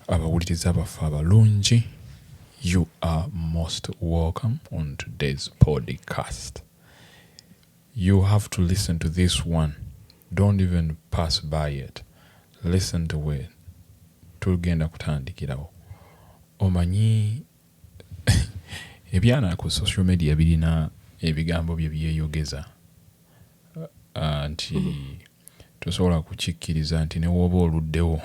Abawuliriza baffe abalungi you are most welcome on today's podcast you have to listen to this one don't even pass by it listen to it tugenda kutandikirawo omanyi ebyana ku social media birina ebigambo bye byeyogeza nti tosobola kukikkiriza nti ne wooba oluddewo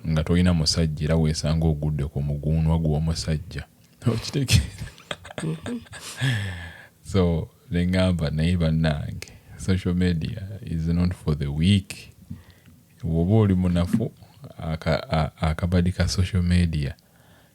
nga tolina musajja era weesanga ogudde ku muguunwa gw'omusajja okitegeera mm-hmm. so ne ŋŋamba naye bannange social media is not for the week woba oli munafu akabadi ka social media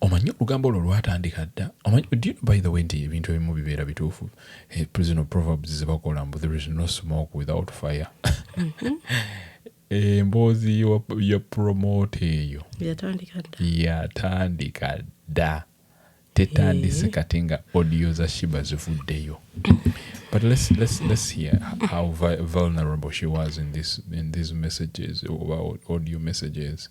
omanyi olugambo olwo lwatandika dda omanyi do you know by the way nti ebintu ebimu bibeera bituufu eh, prisoner proverbs zebakola mbu there is no smoke without fire mm-hmm. emboozi eh, ya promote eyo yatandika dda tetandise eh. kati nga audio za shiba zivuddeyo but let's, let's, let's hear how vulnerable she was in, this, in these messages oba audio messages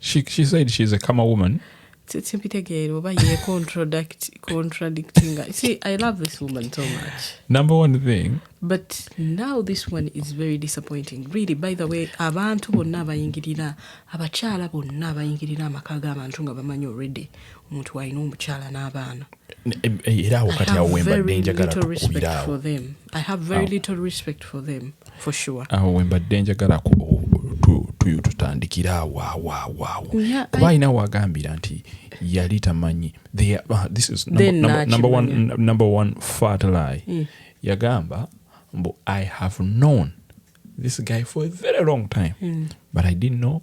she, she said she's a kama woman simpitegeera oba ye contradictinga see i love this woman so much number one thing but now this one is very disappointing really by the way abantu bonna abayingirira abakyala bonna abayingirira amaka g'abantu nga bamanyi already omuntu walina omukyala n'abaana era awo kati awo wembadde njagala awo wembadde njagala tutandikira awo awo awo awo kuba alina wagambira nti yali tamanyi ah, number one fatli mm. yagamba mbu i have known this guy for a very long time mm. but i didn't know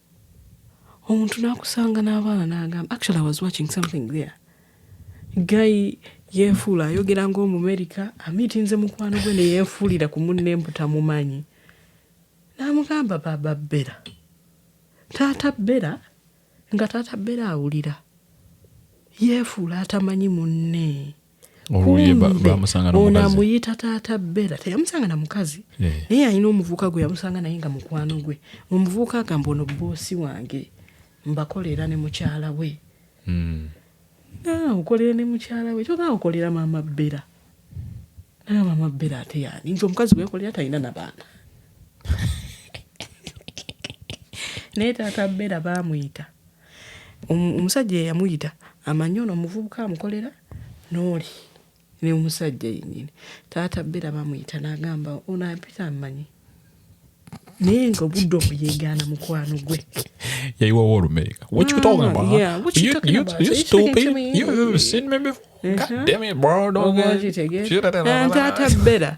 omuntu n'akusanga n'abaana n'agamba actually i was watching something there guy yeefuula ayogera ng'omumerika amiitinze mukwano gwe ne yeefuulira ku munne mbu tamumanyi n'amugamba baaba bbera taata bbera nga taata bbera awulira yeefuula atamanyi munne ono amuyita taata bera teyamusanga na mukazi eh. naye alina omuvubuka gwe yamusanga naye nga mukwano gwe omuvubuka agamba ono boosi wange mbakolera ne mukyala we hmm. ah, okolera ne mukyala we kyoga okolera maama bera naye maama bera ate yani nti omukazi wekolera talina nabaana naye taata bera bamuyita Omusajja eyamuyita amanyi ono omuvubuka amukolera n'oli ne omusajja yennyini taata bera bamuyita n'agamba ono ampita amanyi naye nga obudde omu yeegaana mukwano gwe yayiwawo olumeega taata bera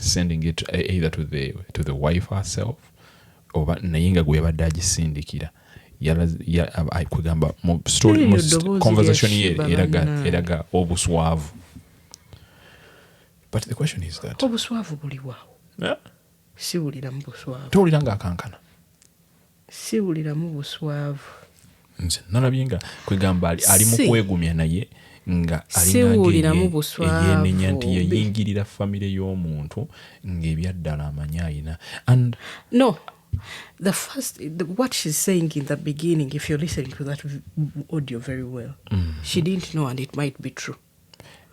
sending it eh, either to the, to the wife herself oba naye nga gwebadde agisindikira kwegamba conversation ye eraga obuswavu but the question is that obuswavu buliwawo siwuliramu buswavu towulira nga akankana siwuliramu buswavu nze nalabye nga kwegamba ali mu kwegumya naye nga alinanti yeyingirira famire y'omuntu ngaebyaddala amanyi alina and no the first the, what she's saying in the beginning if you're listening to that audio very well mm. she didn't know and it might be true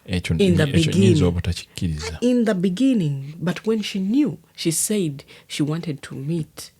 in the beginning in the beginning but when she knew she said she wanted to meet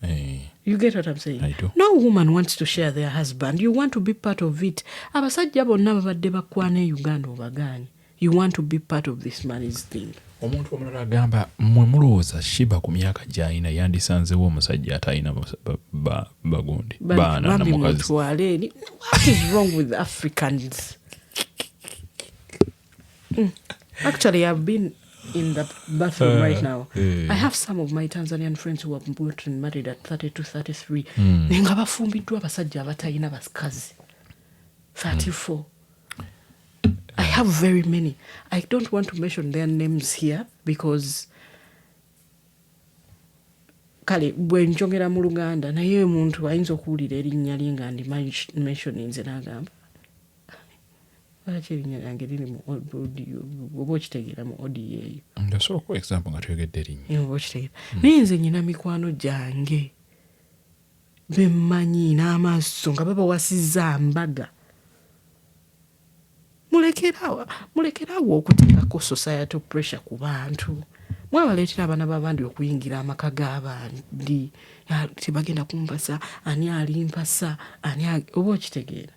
Hey. Eh. You get what I'm saying? I do. No woman wants to share their husband. You want to be part of it. Abasajja bonna babadde bakwana e Uganda obagaanyi. You want to be part of this man's thing. omuntu omulala agamba mwe mulowooza shiba ku myaka gyalina yandisanzewo omusajja atalina bagundi baana namukazi Mm. Actually, I've been in the bathroom uh, right now. Yeah. I have some of my Tanzanian friends who have bought and married at 32, 33. Mm. Nga bafumbiddwa abasajja abatalina basikazi. 34. Mm. I have very many. I don't want to mention their names here because kale bwe njogera mu luganda naye omuntu ayinza okuwulira erinnya lye nga ndi mentioninze n'agamba lwaki erinnya lyange liri mu audio oba okitegeera mu audio eyo osobola okuwa example nga toyogedde erinnya oba okitegeera hmm. naye nze nyina mikwano gyange bemmanyi n'amaaso nga babawasizza mbaga mulekerawo mulekerawo okuteekako society pressure ku bantu mwabaleetera abaana babandi okuyingira amaka g'abandi tebagenda kumpasa ani alimpasa ani oba okitegeera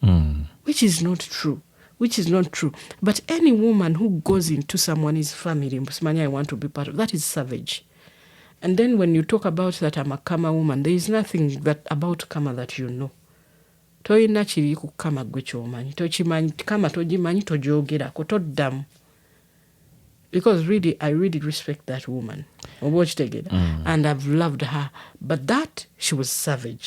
mm. which is not true which is not true but any woman who goes into someone's family mbusimanya i want to be part of that is savage and then when you talk about that i'm a kama woman there is nothing that about kama that you know tolina kiri ku kama gwe kyomanyi tokimanyi kama togimanyi togyogerako toddamu because really i really respect that woman oba okitegera mm. and i've loved her but that she was savage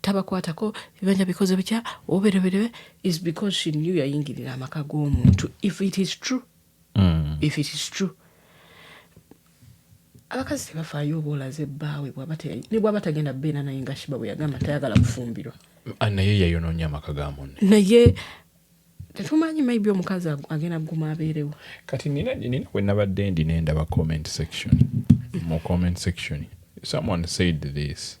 tabakwatako bibanja bikoze bitya obereberebe is because she knew yayingirira amaka g'omuntu if it is true mm. if it is true abakazi tebafaayo oba olaze bbaawe ne bwaba tagenda beera naye nga shiba bwe yagamba tayagala kufumbirwa ah, naye yayonoonya amaka ga munne naye tetumanyi maybe omukazi agenda kuguma abeerewo kati nina nina we nabadde ndi nendaba comment section mu comment section someone said this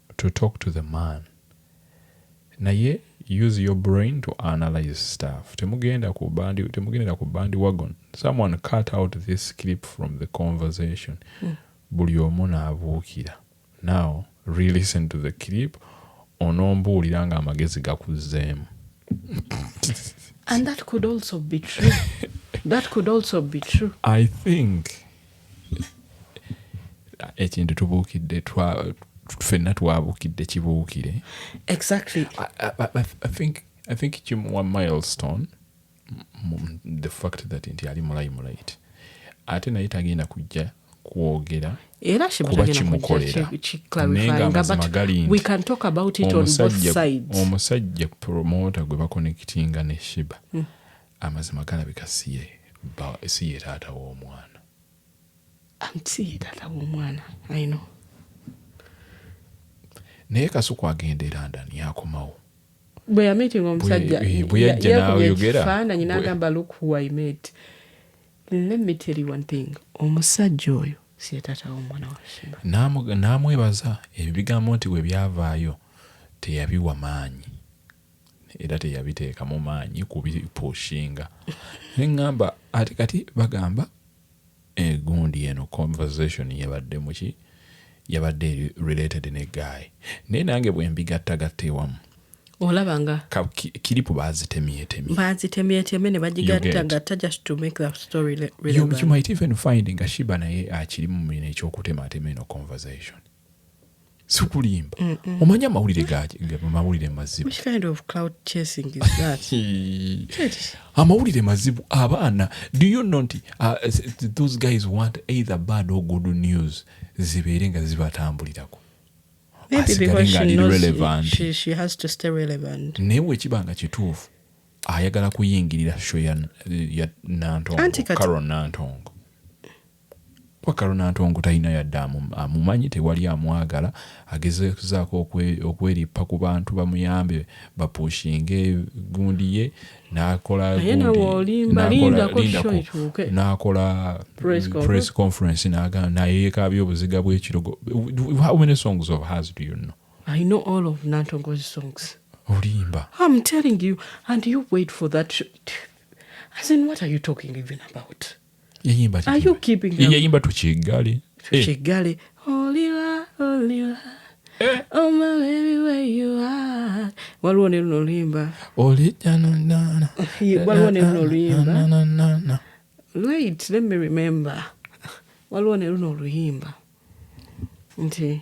to talk to the man naye use your brain to analyze stuff temugenda ku bandi temugendera ku bandi wagon someone cut out this clip from the conversation mm. buli omu naabuukira now relisten to the clip onombuulira nga amagezi gakuzzeemu and that could also be true that could also be true i think ekintu tubuukidde fenna twabuukidde kibuukire exactly I, I, I, I think, I think kimuwa milestone the fact that nti ali mulayi mulayiti ate naye tagenda kujja kwogera era kuba kimukolera naye ngaamazima gali nti omusajja promoota gwe bakonekitinga ne shiba mm. Amazima galabika siye bba siye taata w'omwana. Am siye taata w'omwana I know. Naye Kasuku agenda e London yakomawo. Bwe ya meeting omusajja yakubye ekifaananyi n'agamba look who I met. Let me tell you one thing omusajja oyo siye taata w'omwana wa Sheba. N'amwebaza ebyo bigambo nti bwe byavaayo teyabiwa maanyi. era teyabiteekamu maanyi kubipushinga ne ŋŋamba ate kati bagamba egundi eh, eno conversation yabadde muki yabadde eri related ne guy naye nange bwe mbigattagatta ewamu olaba nga kiripu bazitemyetemye bazitemyetemye ne bagigattagatta just to make that story relevant. You, you might even find nga shiba naye akiri mu mumina ekyokutematema eno conversation sikulimba omanyi amawulire gamawulire mazibu amawulire mazibu abaana do you know nti uh, those guys want either bad or good news zibeere nga zibatambulirako naye wekiba nga kituufu ayagala kuyingirira sho ya nantongo Wakalo Nantongo talina yadde amumanyi, tewali amwagala, agezezaako okwerippa ku bantu bamuyambe bapushinge gundi ye nakola gundi nakola press conference nayekaabya obuziga bwekirogo, how many songs of hers do you know? I know all of Nantongo's songs. Olimba. I'm telling you and you wait for that as in what are you talking even about? yayimba yayimba tukiggale tukiggale oliwa oliwa eh. oh my baby where you are waliwo ne luno oluyimba olijanonana waliwo ne luno oluyimba wait let me remember waliwo ne luno oluyimba nti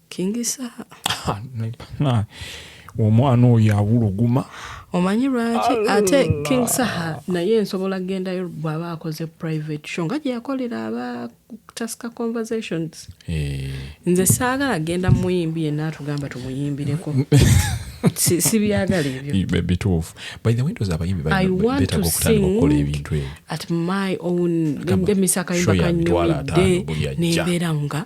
Ah, omwana oyo awuluguma omanyi lwaki ate king saha naye nsobola gendayo bwaba akoze private show nga gyeyakolera aba taska conversations eh. nze saagala genda muyimbi yenna atugamba tumuyimbireko sibyagala ebyobituufu by the windows abayimbi betaga okutandika okukola ebintu ebyo at my own emisakayimba kanyumidde nembeera nga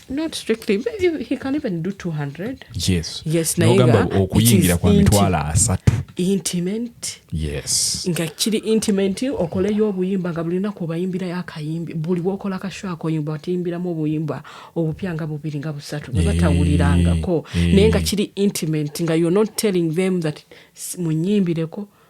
not strictly maybe he can even do 200 yes yes nogamba okuyingira kwa mitwalo asatu intimate yes nga kiri intimate okoleyo obuyimba nga bulina ku bayimbira yakayimbi buli wokola kasho akoyimba atiyimbiramu obuyimba obupya nga bubiri nga busatu ne batawulirangako eh, eh. naye nga kiri intimate nga you're not telling them that munyimbireko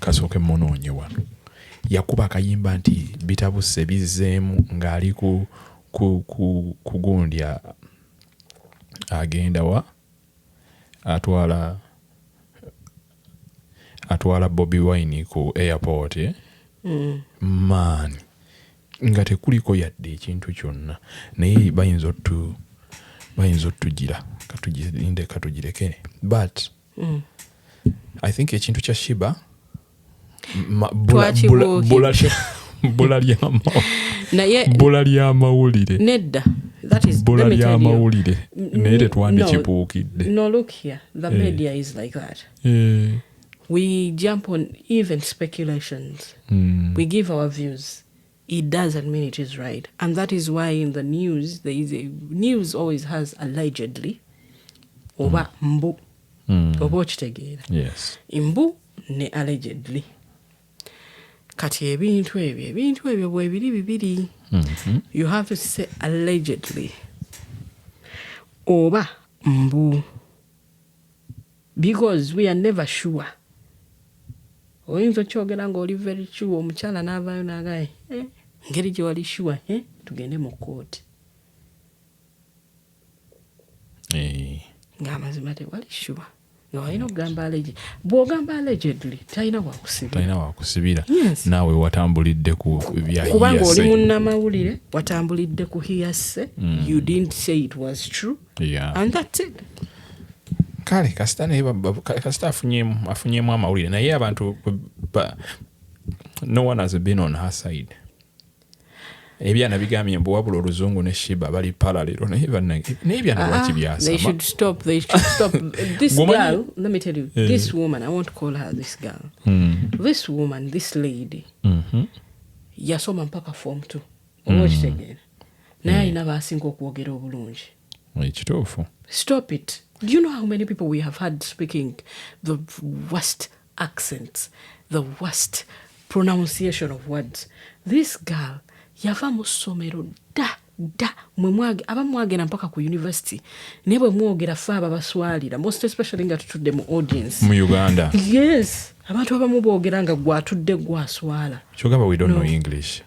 Kasooke mmunoonye wano. Yakuba akayimba nti bitabuse bizzeemu ng'ali ku ku ku ku gundi agenda wa atwala atwala Bobi Wine ku airport eh? mm. man nga tekuliko yadde ekintu kyonna naye bayinza otu bayinza otugira katugirinde katugireke but mm. i think ekintu kya shiba bbula lyamawulire nedda bbula lyamawulire naye tetwandikibuukidde no look here the eh. media is like that eh. we jump on even speculations mm. we give our views It doesn't mean it is right. And that is why in the news, there is a, news always has allegedly oba mm. mbu mm. oba okitegeera yes. mbu ne allegedly kati ebintu ebyo ebintu ebyo bwebiri bibiri mm -hmm. you have to say allegedly oba mbu Because we are never sure. Oyinza okyogera nga oli very sure omukyala n'avaayo n'agaye eh, ngeri gye wali sure eh, tugende mu kkooti eh. ng'amazima tewali sure nga walina okugamba alege bw'ogamba allegedly talina wakusibitalina wakusibira naawe watambulidde ku kubanga oli munnamawulire watambulidde ku hiyase mm. you didn't say it was true yeah. and that's it kale kasita naye kasita afunyemu afunyemu amawulire naye abantu no one has been on her side ebyana bigambye mbu wabula oluzungu ne shiba bali paralero naye banange naye ebyana ah, lwaki byasamathiswoman hmm. this lady mm-hmm. yasoma mpaka form two oba hmm. okitegeera naye alina hmm. baasinga okwogera obulungi ekituufu stop it do you know how many people we have had speaking the worst accents the worst pronunciation of words this girl yava mu ssomero dda dda mwemwage aba mwagenda mpaka ku university naye bwe mwogera fe aba baswalira most especially nga tutudde mu audience mu uganda yes abantu abamu boogera nga gwatudde gwaswala kyogamba we don't no. know english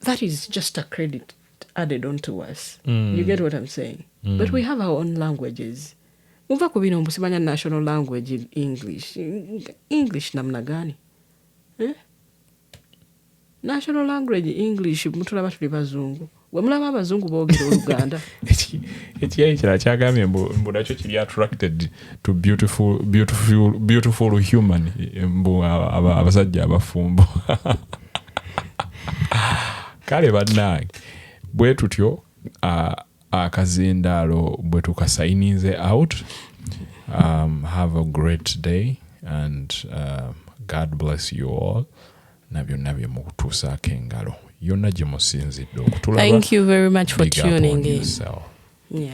that is just a credit added on to us mm. you get what i'm saying mm. but we have our own languages muva ku bino mbusimanya national language in english english namna gani eh? national language english mutulaba tuli bazungu wemulaba abazungu bogera oluganda ekiyayi kira kyagambye mbu nakyo kiri attracted to beautiful, beautiful, beautiful human mbu abasajja abafumbo kale bannange bwe tutyo akazindaalo bwe tukasayininze out um, have a great day and uh, god bless you all na byonna bye mukutuusaako engalo yonna gye musinzidde okutulaba thank you very much for tuning in yeah.